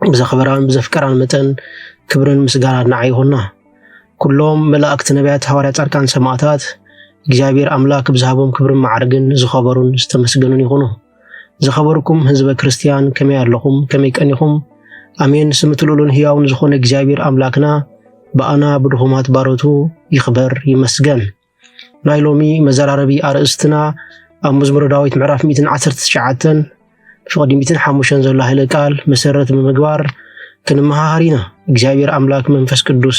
ብዘኽበራን ብዘፍቀራን መጠን ክብርን ምስጋናን ንዓ ይኹና። ኩሎም መላእክቲ፣ ነቢያት፣ ሃዋርያ፣ ጻድቃን፣ ሰማእታት እግዚኣብሔር ኣምላክ ብዝሃቦም ክብርን ማዕርግን ዝኸበሩን ዝተመስገኑን ይኹኑ። ዝኸበርኩም ህዝበ ክርስቲያን ከመይ ኣለኹም? ከመይ ቀኒኹም? ኣሜን። ስምቲ ልኡሉን ህያውን ዝኾነ እግዚኣብሔር ኣምላክና ብኣና ብድኹማት ባሮቱ ይኽበር ይመስገን። ናይ ሎሚ መዘራረቢ ኣርእስትና ኣብ መዝሙረ ዳዊት ምዕራፍ 119 ፍቕዲ 105 ዘሎ ሃይለ ቃል መሰረት ብምግባር ክንመሃሃር ኢና። እግዚኣብሔር ኣምላክ መንፈስ ቅዱስ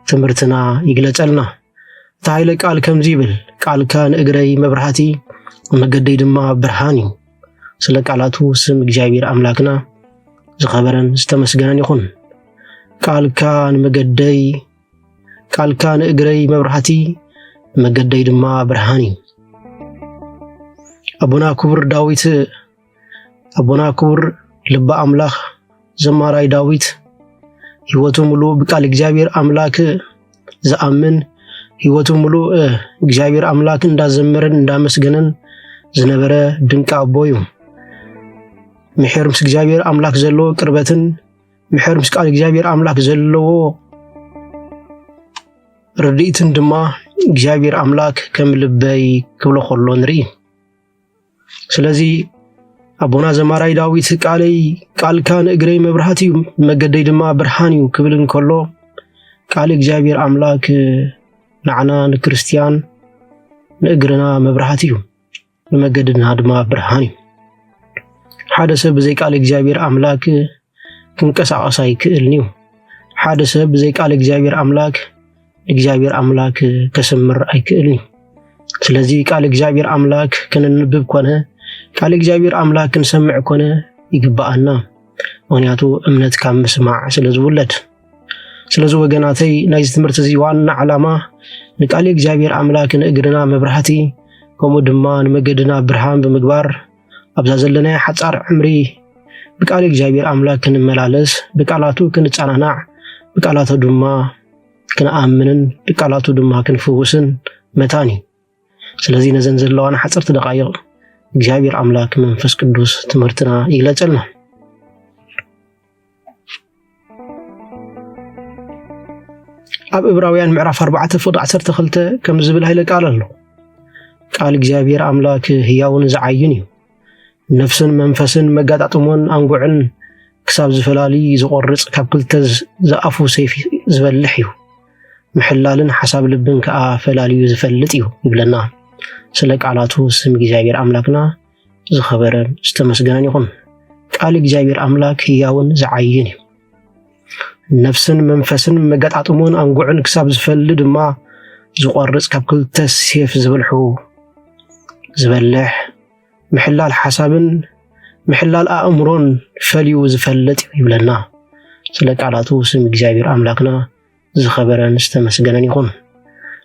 ትምህርትና ይግለጸልና። እቲ ሃይለ ቃል ከምዚ ይብል፣ ቃልካ ንእግረይ መብራህቲ መገደይ ድማ ብርሃን እዩ። ስለ ቃላቱ ስም እግዚኣብሔር ኣምላክና ዝኸበረን ዝተመስገነን ይኹን። ቃልካ ንመገደይ ቃልካ ንእግረይ መብራህቲ ንመገደይ ድማ ብርሃን እዩ። ኣቦና ክቡር ዳዊት ኣቦና ክቡር ልበ ኣምላኽ ዘማራይ ዳዊት ህይወቱ ምሉእ ብቃል እግዚኣብሔር ኣምላክ ዝኣምን ህይወቱ ምሉእ እግዚኣብሔር ኣምላክ እንዳዘመረን እንዳመስገነን ዝነበረ ድንቂ ኣቦ እዩ። ምሕር ምስ እግዚኣብሔር ኣምላክ ዘለዎ ቅርበትን ምሕር ምስ ቃል እግዚኣብሔር ኣምላክ ዘለዎ ርድኢትን ድማ እግዚኣብሔር ኣምላክ ከም ልበይ ክብሎ ከሎ ንርኢ ስለዚ ኣቦና ዘማራይ ዳዊት ቃለይ ቃልካ ንእግረይ መብርሃት እዩ መገደይ ድማ ብርሃን እዩ ክብል እንከሎ ቃል እግዚኣብሔር ኣምላክ ንዓና ንክርስትያን ንእግርና መብርሃት እዩ ንመገድና ድማ ብርሃን እዩ። ሓደ ሰብ ብዘይ ቃል እግዚኣብሔር ኣምላክ ክንቀሳቀስ ኣይክእልን እዩ። ሓደ ሰብ ብዘይ ቃል እግዚኣብሔር ኣምላክ እግዚኣብሔር ኣምላክ ከስምር ኣይክእልን እዩ። ስለዚ ቃል እግዚኣብሔር ኣምላክ ክንንብብ ኮነ ቃል እግዚኣብሔር ኣምላክ ክንሰምዕ ኮነ ይግባኣና። ምክንያቱ እምነት ካብ ምስማዕ ስለ ዝውለድ ስለዚ ወገናተይ ናይዚ ትምህርቲ እዚ ዋና ዓላማ ንቃል እግዚኣብሔር ኣምላክ ንእግርና መብራህቲ ከምኡ ድማ ንመገድና ብርሃን ብምግባር ኣብዛ ዘለናዮ ሓፃር ዕምሪ ብቃል እግዚኣብሔር ኣምላክ ክንመላለስ ብቃላቱ ክንፀናናዕ ብቃላቱ ድማ ክንኣምንን ብቃላቱ ድማ ክንፍውስን መታን እዩ። ስለዚ ነዘን ዘለዋና ሓፀርቲ ደቃይቕ እግዚኣብሔር ኣምላክ መንፈስ ቅዱስ ትምህርትና ይግለፀልና። ኣብ እብራውያን ምዕራፍ 4 ፍቅዲ 12 ከም ዝብል ሃይለ ቃል ኣሎ ቃል እግዚኣብሔር ኣምላክ ህያውን ዝዓዩን እዩ ነፍስን መንፈስን መጋጣጥሞን ኣንጉዕን ክሳብ ዝፈላሊ ዝቆርጽ ካብ ክልተ ዝኣፉ ሰይፊ ዝበልሕ እዩ። ምሕላልን ሓሳብ ልብን ከዓ ፈላልዩ ዝፈልጥ እዩ ይብለና። ስለ ቃላቱ ስም እግዚኣብሔር ኣምላክና ዝኸበረን ዝተመስገነን ይኹን። ቃል እግዚኣብሔር ኣምላክ ህያውን ዝዓይን እዩ። ነፍስን መንፈስን መገጣጥሞን ኣንጉዕን ክሳብ ዝፈሊ ድማ ዝቆርፅ ካብ ክልተ ሴፍ ዝብልሑ ዝበልሕ ምሕላል ሓሳብን ምሕላል ኣእምሮን ፈልዩ ዝፈልጥ ይብለና። ስለ ቃላቱ ስም እግዚኣብሔር ኣምላክና ዝኸበረን ዝተመስገነን ይኹን።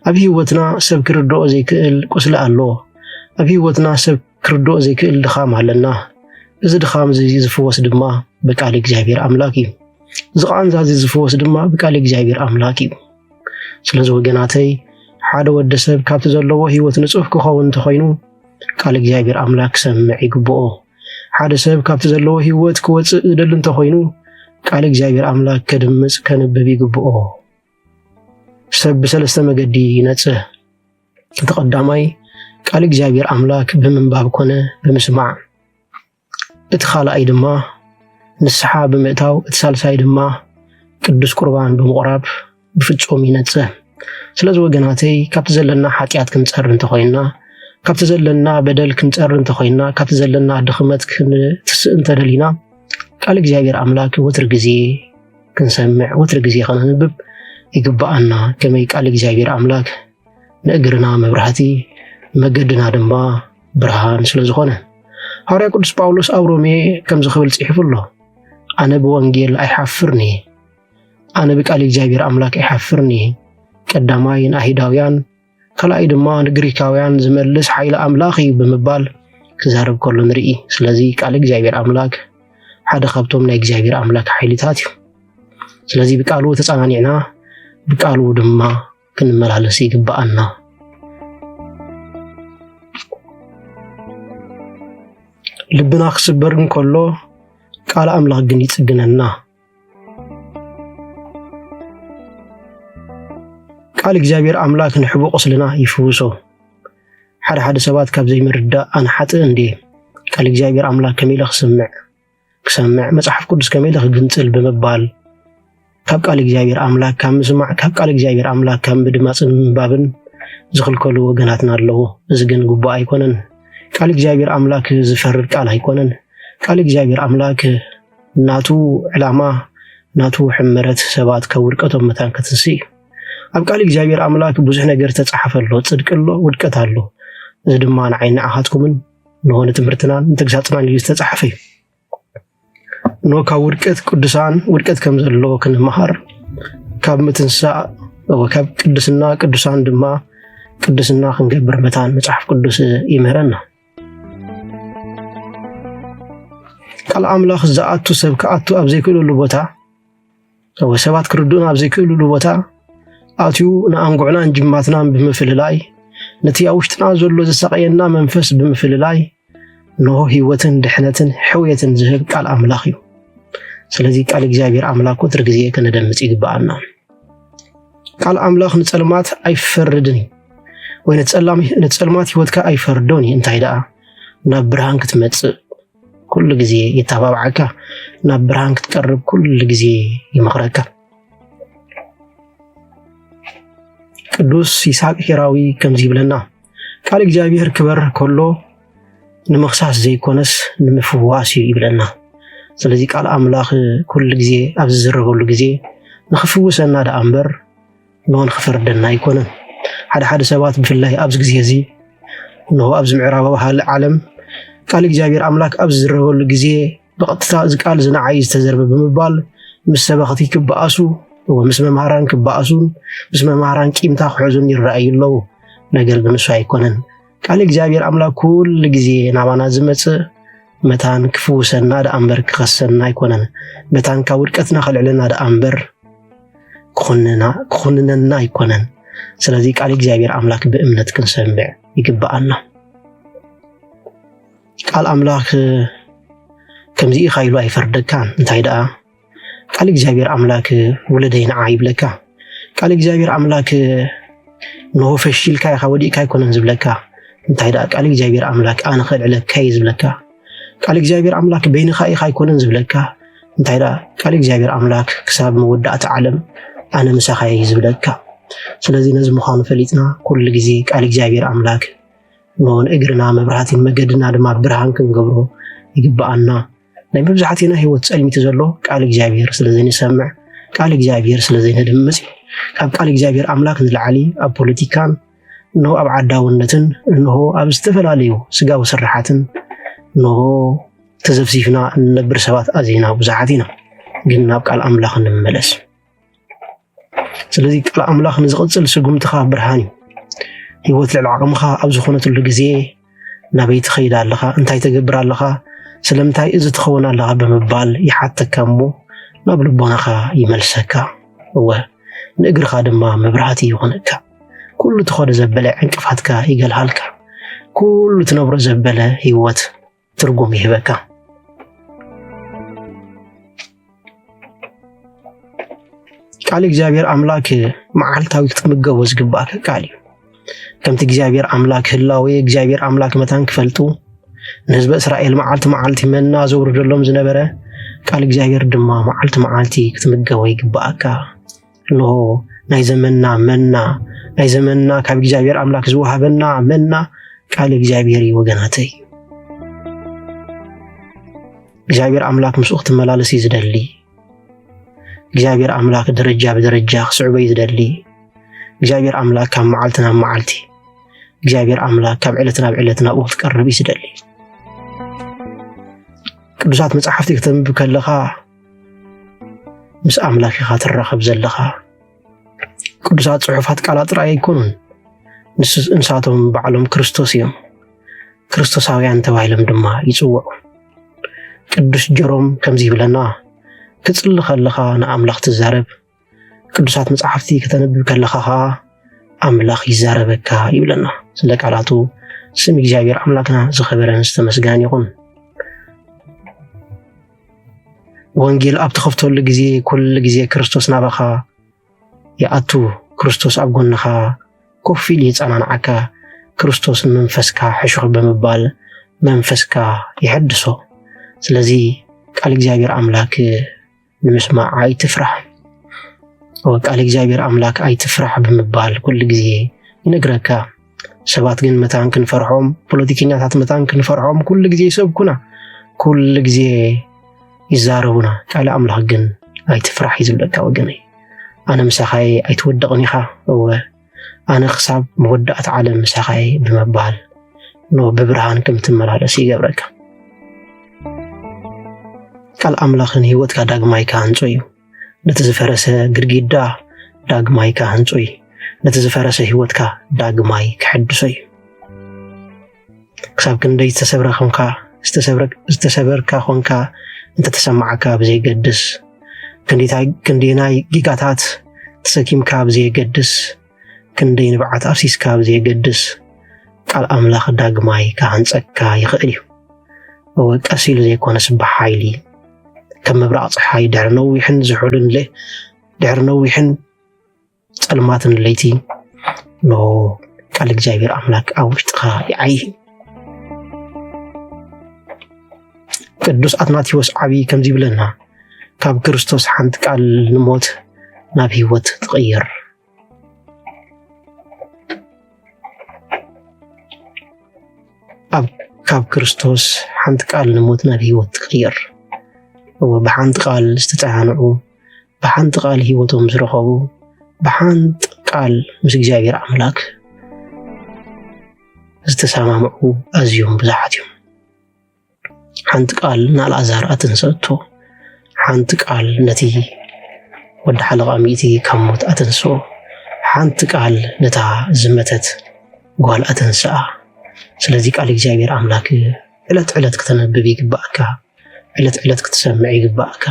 ኣብ ህይወትና ሰብ ክርድኦ ዘይክእል ቁስሊ ኣሎ። ኣብ ህይወትና ሰብ ክርድኦ ዘይክእል ድኻም ኣለና። እዚ ድኻም እዚ ዝፍወስ ድማ ብቃል እግዚኣብሔር ኣምላክ እዩ። እዚ ቃንዛ እዚ ዝፍወስ ድማ ብቃል እግዚኣብሔር ኣምላክ እዩ። ስለዚ ወገናተይ ሓደ ወዲ ሰብ ካብቲ ዘለዎ ህይወት ንጹህ ክኸውን እንተኾይኑ ቃል እግዚኣብሔር ኣምላክ ክሰምዕ ይግብኦ። ሓደ ሰብ ካብቲ ዘለዎ ህይወት ክወፅእ ዝደሊ እንተኾይኑ ቃል እግዚኣብሔር ኣምላክ ከድምፅ ከንብብ ይግብኦ። ሰብ ብሰለስተ መገዲ ይነጽህ። እቲ ቀዳማይ ቃል እግዚኣብሔር ኣምላክ ብምንባብ ኮነ ብምስማዕ፣ እቲ ካልኣይ ድማ ንስሓ ብምእታው፣ እቲ ሳልሳይ ድማ ቅዱስ ቁርባን ብምቑራብ ብፍጹም ይነጽህ። ስለዚ ወገናተይ ካብቲ ዘለና ሓጢኣት ክንጸር እንተኾይና ካብቲ ዘለና በደል ክንጸር እንተኾይና ካብቲ ዘለና ድኽመት ክንትስእ እንተደሊና ቃል እግዚኣብሔር ኣምላክ ወትር ግዜ ክንሰምዕ ወትሪ ግዜ ከነንብብ ይግብኣና። ከመይ ቃል እግዚኣብሔር ኣምላክ ንእግርና መብራህቲ መገድና ድማ ብርሃን ስለ ዝኾነ ሃዋርያ ቅዱስ ጳውሎስ ኣብ ሮሜ ከምዚ ክብል ጽሒፉ ኣሎ ኣነ ብወንጌል ኣይሓፍርን እየ ኣነ ብቃል እግዚኣብሔር ኣምላክ ኣይሓፍርን እየ ቀዳማይ ንኣይሁዳውያን ካልኣይ ድማ ንግሪካውያን ዝመልስ ሓይሊ ኣምላኽ እዩ ብምባል ክዛረብ ከሎ ንርኢ። ስለዚ ቃል እግዚኣብሔር ኣምላክ ሓደ ካብቶም ናይ እግዚኣብሔር ኣምላክ ሓይልታት እዩ። ስለዚ ብቃሉ ተጸናኒዕና ብቃሉ ድማ ክንመላለስ ይግባኣና። ልብና ክስበር እንከሎ ቃል ኣምላኽ ግን ይጽግነና። ቃል እግዚኣብሔር ኣምላክ ንሕቡ ቁስልና ይፍውሶ። ሓደ ሓደ ሰባት ካብ ዘይምርዳእ ኣነ ሓጥእ እንድየ ቃል እግዚኣብሔር ኣምላክ ከመይ ኢለ ክስምዕ ክሰምዕ መፅሓፍ ቅዱስ ከመይ ኢለ ክግንፅል ብምባል ካብ ቃል እግዚኣብሔር ኣምላክ ካብ ምስማዕ ካብ ቃል እግዚኣብሔር ኣምላክ ካብ ምድማፅን ምንባብን ዝኽልከሉ ወገናትና ኣለዎ። እዚ ግን ግቡእ ኣይኮነን። ቃል እግዚኣብሔር ኣምላክ ዝፈርድ ቃል ኣይኮነን። ቃል እግዚኣብሔር ኣምላክ ናቱ ዕላማ ናቱ ሕመረት ሰባት ካብ ውድቀቶም መታን ከትንስእ እዩ። ኣብ ቃል እግዚኣብሔር ኣምላክ ብዙሕ ነገር ዝተጻሓፈ ኣሎ፣ ጽድቂ ኣሎ፣ ውድቀት ኣሎ። እዚ ድማ ንዓይ ንዓኻትኩምን ንሆ ንትምህርትናን ንተግሳጽናን እዩ ዝተጻሓፈ እዩ። ኖ ካብ ውድቀት ቅዱሳን ውድቀት ከም ዘሎ ክንመሃር ካብ ምትንሳእ ካብ ቅድስና ቅዱሳን ድማ ቅድስና ክንገብር መታን መጽሓፍ ቅዱስ ይምህረና። ቃል ኣምላኽ ዝኣቱ ሰብ ክኣቱ ኣብ ዘይክእለሉ ቦታ ወይ ሰባት ክርድኡን ኣብ ዘይክእልሉ ቦታ ኣትዩ ንኣንጉዕናን ጅማትናን ብምፍልላይ ነቲ ኣብ ውሽጥና ዘሎ ዘሳቀየና መንፈስ ብምፍልላይ ንሆ ህይወትን ድሕነትን ሕውየትን ዝህብ ቃል ኣምላኽ እዩ። ስለዚ ቃል እግዚኣብሔር ኣምላክ ወትር ግዜ ከነደምፅ ይግበኣና። ቃል ኣምላኽ ንጸልማት ኣይፈርድን እዩ ወይ ንጸልማት ህይወትካ ኣይፈርዶን እዩ። እንታይ ደኣ ናብ ብርሃን ክትመጽእ ኩሉ ግዜ የተባብዓካ፣ ናብ ብርሃን ክትቀርብ ኩሉ ግዜ ይመኽረካ። ቅዱስ ይስሐቅ ሄራዊ ከምዚ ይብለና ቃል እግዚኣብሔር ክበር ከሎ ንምኽሳስ ዘይኮነስ ንምፍዋስ እዩ ይብለና። ስለዚ ቃል ኣምላኽ ኩሉ ግዜ ኣብ ዝዝረበሉ ግዜ ንኽፍውሰና ደኣ እምበር እንሆ ንኽፈርደና ኣይኮነን። ሓደ ሓደ ሰባት ብፍላይ ኣብዚ ግዜ እዚ እንሆ ኣብዚ ምዕራባዊ ዓለም ቃል እግዚኣብሔር ኣምላክ ኣብ ዝዝረበሉ ግዜ ብቐጥታ እዚ ቃል እዚ ንዓይ ዝተዘርበ ብምባል ምስ ሰበኽቲ ክበኣሱ ወይ ምስ መምሃራን ክበኣሱን ምስ መምሃራን ቂምታ ክሕዙን ይረኣዩ ኣለዉ። ነገር ግን እሱ ኣይኮነን። ቃል እግዚኣብሔር ኣምላክ ኩሉ ግዜ ናባና ዝመጽእ መታን ክፍውሰና ደኣ እምበር ክኸሰና ኣይኮነን። መታን ካብ ውድቀትና ከልዕለና ደኣ እምበር ክኹንነና ኣይኮነን። ስለዚ ቃል እግዚኣብሔር ኣምላክ ብእምነት ክንሰምዕ ይግብኣና። ቃል ኣምላክ ከምዚ ኢካ ኢሉ ኣይፈርደካን እንታይ ደኣ ቃል እግዚኣብሔር ኣምላክ ውለደይ ንዓ ይብለካ ቃል እግዚኣብሔር ኣምላክ ንሆ ፈሽልካ ኢካ ወዲእካ ኣይኮነን ዝብለካ እንታይ ደኣ ቃል እግዚኣብሔር ኣምላክ ኣነ ከልዕለካ እየ ዝብለካ ቃል እግዚኣብሔር ኣምላክ በይንካ ኢካ ኣይኮነን ዝብለካ እንታይ ደኣ ቃል እግዚኣብሔር ኣምላክ ክሳብ መወዳእቲ ዓለም ኣነ ምሳካ እየ ዝብለካ ስለዚ ነዚ ምዃኑ ፈሊጥና ኩሉ ግዜ ቃል እግዚኣብሔር ኣምላክ እሞውን እግርና መብራህቲን መገድና ድማ ብርሃን ክንገብሮ ይግብኣና። ናይ መብዛሕትና ህይወት ጸልሚቲ ዘሎ ቃል እግዚኣብሔር ስለ ዘይንሰምዕ ቃል እግዚኣብሔር ስለ ዘይነድምፅ ካብ ቃል እግዚኣብሔር ኣምላክ ንላዕሊ ኣብ ፖለቲካን እንሆ ኣብ ዓዳውነትን እንሆ ኣብ ዝተፈላለዩ ስጋዊ ስራሓትን እንሆ ተዘፍሲፍና እንነብር ሰባት ኣዝና ብዙሓት ኢና። ግን ናብ ቃል ኣምላኽ እንመለስ። ስለዚ ቃል ኣምላኽ ንዝቕጽል ስጉምትኻ ብርሃን እዩ። ህይወት ልዕሊ ዓቕምኻ ኣብ ዝኾነትሉ ግዜ ናበይ ትኸይድ ኣለኻ፣ እንታይ ተገብር ኣለኻ፣ ስለምንታይ እዚ ትኸውን ኣለኻ ብምባል ይሓተካ እሞ ናብ ልቦናኻ ይመልሰካ። እወ ንእግርኻ ድማ መብራህቲ ይኾነካ። ኩሉ ትኸዶ ዘበለ ዕንቅፋትካ ይገልሃልካ። ኩሉ ትነብሮ ዘበለ ህይወት ትርጉም ይህበካ። ቃል እግዚኣብሔር ኣምላክ መዓልታዊ ክትምገቦ ዝግባእከ ቃል እዩ። ከምቲ እግዚኣብሔር ኣምላክ ህላዌ እግዚኣብሔር ኣምላክ መታን ክፈልጡ ንህዝበ እስራኤል መዓልቲ መዓልቲ መና ዘውርደሎም ዝነበረ ቃል እግዚኣብሔር ድማ መዓልቲ መዓልቲ ክትምገቦ ይግባኣካ። እንሆ ናይ ዘመንና መና ናይ ዘመንና ካብ እግዚኣብሔር ኣምላክ ዝወሃበና መና ቃል እግዚኣብሔር እዩ ወገናተይ እግዚኣብሔር ኣምላክ ምስኡ ክትመላለስ እዩ ዝደሊ እግዚኣብሔር ኣምላክ ደረጃ ብደረጃ ክስዕቦ እዩ ዝደሊ እግዚኣብሔር ኣምላክ ካብ መዓልቲ ናብ መዓልቲ እግዚኣብሔር ኣምላክ ካብ ዕለት ናብ ዕለት ናብኡ ክትቀርብ እዩ ዝደሊ ቅዱሳት መፅሓፍቲ ክተንብብ ከለካ ምስ ኣምላኽ ኢኻ ትራኸብ ዘለኻ። ቅዱሳት ጽሑፋት ቃላ ጥራይ ኣይኮኑን፣ ንሳቶም ባዕሎም ክርስቶስ እዮም። ክርስቶሳውያን ተባሂሎም ድማ ይጽውዑ። ቅዱስ ጀሮም ከምዚ ይብለና፣ ክጽሊ ከለኻ ንኣምላኽ ትዛረብ፣ ቅዱሳት መጽሓፍቲ ከተንብብ ከለኻ ከዓ ኣምላኽ ይዛረበካ ይብለና። ስለ ቃላቱ ስም እግዚኣብሔር ኣምላክና ዝኸበረን ዝተመስገነን ይኹን። ወንጌል ኣብ ትኸፍተሉ ግዜ ኩሉ ግዜ ክርስቶስ ናባኻ ይኣቱ። ክርስቶስ ኣብ ጎንኻ ኮፍ ኢሉ ይጸናንዓካ። ክርስቶስ ንመንፈስካ ሕሹኽ ብምባል መንፈስካ ይሐድሶ። ስለዚ ቃል እግዚኣብሔር ኣምላክ ብምስማዕ ኣይትፍራሕ፣ ቃል እግዚኣብሔር ኣምላክ ኣይትፍራሕ ብምባል ኩሉ ግዜ ይነግረካ። ሰባት ግን መታን ክንፈርሖም፣ ፖለቲከኛታት መታን ክንፈርሖም ኩሉ ግዜ ይሰብኩና፣ ኩሉ ግዜ ይዛረቡና። ቃል ኣምላክ ግን ኣይትፍራሕ እዩ ዝብለካ ወገነይ። ኣነ ምሳኻየ ኣይትወደቕን ኢኻ እወ ኣነ ክሳብ መወዳእታ ዓለም ምሳኻ እየ ብምባል ኖ ብብርሃን ከም ትመላለስ ይገብረካ። ቃል ኣምላኽ ንህይወትካ ዳግማይ ክሃንጾ እዩ። ነቲ ዝፈረሰ ግድግዳ ዳግማይ ክሃንጾ እዩ። ነቲ ዝፈረሰ ህይወትካ ዳግማይ ክሕድሶ እዩ። ክሳብ ክንደይ ዝተሰብረ ኮንካ ዝተሰበርካ ኮንካ እንተተሰማዓካ ብዘይገድስ ክንደይናይ ጌጋታት ተሰኪምካ ብዘየገድስ ክንደይ ንብዓት ኣፍሲስካ ብዘየገድስ ቃል ኣምላኽ ዳግማይ ክሃንፀካ ይኽእል እዩ እወ ቀስ ኢሉ ዘይኮነስ ብሓይሊ ከም ምብራቕ ፀሓይ ድሕሪ ነዊሕን ዝሑልን ድሕሪ ነዊሕን ጸልማትን ለይቲ ኖ ቃል እግዚኣብሔር ኣምላክ ኣብ ውሽጥኻ ይዓይ ቅዱስ ኣትናቴዎስ ዓብዪ ከምዚ ይብለና ካብ ክርስቶስ ሓንቲ ቃል ንሞት ናብ ህይወት ትቕይር ካብ ክርስቶስ ሓንቲ ቃል ንሞት ናብ ህይወት ትቕይር እወ ብሓንቲ ቃል ዝተፀናንዑ ብሓንቲ ቃል ህይወቶም ዝረኸቡ ብሓንቲ ቃል ምስ እግዚኣብሔር ኣምላክ ዝተሰማምዑ ኣዝዮም ብዙሓት እዮም። ሓንቲ ቃል ንኣልኣዛር ኣተንሰእቶ፣ ሓንቲ ቃል ነቲ ወዲ ሓለቓ ሚእቲ ካብ ሞት ኣተንስኦ፣ ሓንቲ ቃል ነታ ዝመተት ጓል ኣተንስኣ። ስለዚ ቃል እግዚኣብሔር ኣምላክ ዕለት ዕለት ክተነብብ ይግባእካ። ዕለት ዕለት ክትሰምዕ ይግባእካ።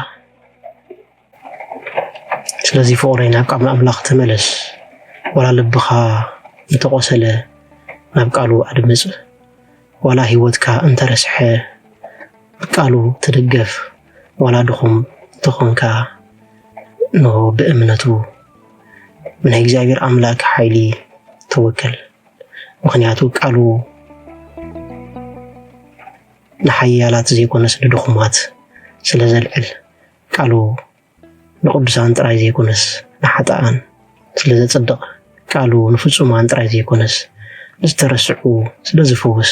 ስለዚ ፍቕረይ ናብ ቃል ኣምላኽ ተመለስ። ዋላ ልብኻ እንተቆሰለ ናብ ቃሉ ኣድምፅ። ዋላ ህይወትካ እንተረስሐ ቃሉ ትድገፍ። ዋላ ድኹም እንተኾንካ እንሆ ብእምነቱ ናይ እግዚኣብሔር ኣምላክ ሓይሊ ተወከል። ምክንያቱ ቃሉ ንሓያላት ዘይኮነስ ንድኹማት ስለ ዘልዕል፣ ቃሉ ንቕዱሳን ጥራይ ዘይኮነስ ንሓጥኣን ስለ ዘጽድቕ፣ ቃሉ ንፍጹማን ጥራይ ዘይኮነስ ንዝተረስዑ ስለ ዝፍውስ፣